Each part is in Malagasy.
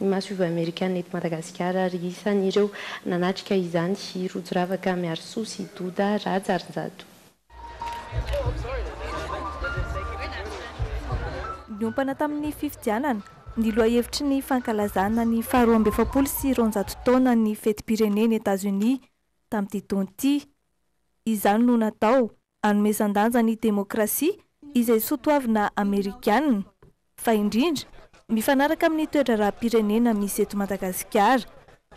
ny masoivoho amerikana eto Madagasikara ary isan'ireo nanatrika izany i Rojo Ravaka Miarisoa sy Doda Rajarinjato. Niompana tamin'ny fifidianana ny lohahevitry ny fankalazana ny faharoa amby efapolo sy roanjato taona ny fetim-pirenen'i Etazonia tamin'ity taona ity. Izany no natao hanomezan-danja ny demokrasia izay soatoavina amerikana, fa indrindra mifanaraka amin'ny toe-draharaham-pirenena misy eto Madagasikara,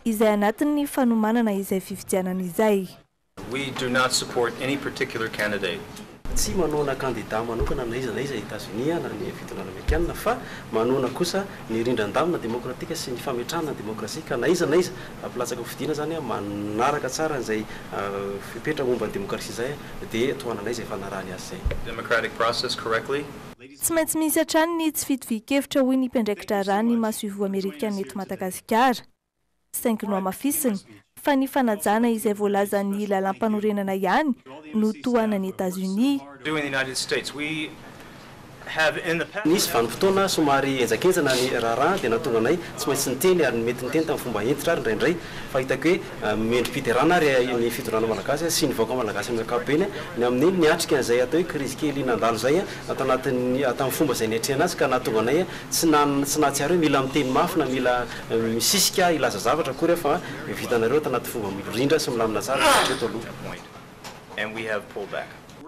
izay anatin'ny fanomanana izay fifidianana izay. We do not support any particular candidate. Tsy manohana kandida manokana na iza na iza i Etazonia na ny fitondrana amerikana, fa manohana kosa ny rindran-damina demokratika sy ny fametrahana ny demokrasia, ka na iza na iza avy latsaka fidiana zany an, manaraka tsara an'izay fepetra momba ny demokrasia zay dia tohananay izay fanarahany azy izay. democratic process correctly. Tsy maintsy misy hatrany ny tsy fitovian-kevitra hoy ny mpiandraiki-draharaha ny masoivoho amerikana eto Madagasikara. Saingy nohamafisiny fa ny fanajana izay voalazan'ny lalàmpanorenana ihany no tohanan'i Etazonia. Nisy vanim-potoana somary henjankenjana ny raharaha dia nahatonga anay tsy maintsy niteny ary mety niteny tamin'ny fomba hentitra ary indraindray fa hitako hoe mendri-piderana ary ny fitondrana malagasy sy ny vahoaka malagasy amin'ny ankapobeny ny amin'ny niatrika an'izay atao hoe krizy kely nandalo izay tao anatin'ny tamin'ny fomba izay niatrehana azy ka nahatonga anay tsy tsy nahatsiaro hoe mila miteny mafy na mila misisika hilaza zavatra akory aho fa vitanareo ato anaty fomba mirindra sy milamina tsara hatreto aloha.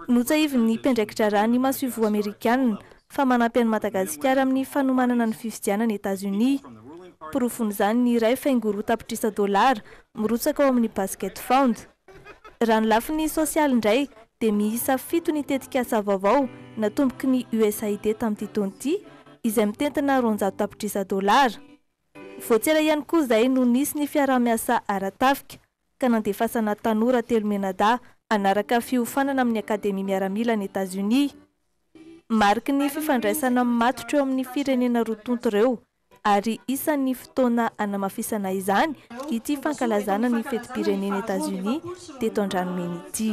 Notsahivin'ny mpiandraikidraharaha ny masoivoho amerikana fa manampy an'i Madagasikara amin'ny fanomanana ny fifidianana Etazonia. Porofon'izany ny iray faingo roa tapitrisa dolara mirotsaka ao amin'ny Basket Fund. Raha ny lafiny sosialy indray dia miisa fito ny tetikasa vaovao natomboky ny USAID tamin'ity taona ity izay mitentina roanjato tapitrisa dolara. Voatsera ihany koa izay no nisy ny fiaraha-miasa ara-tafika ka nandefasana tanora telo mianadahy hanaraka fiofanana amin'ny Akademia Miaramila any Etazonia. Mariky ny fifandraisana matotra eo amin'ny firenena roa tonta ireo, ary isan'ny fotoana hanamafisana izany ity fankalazana ny fetim-pirenena Etazonia teto Andranomena ity.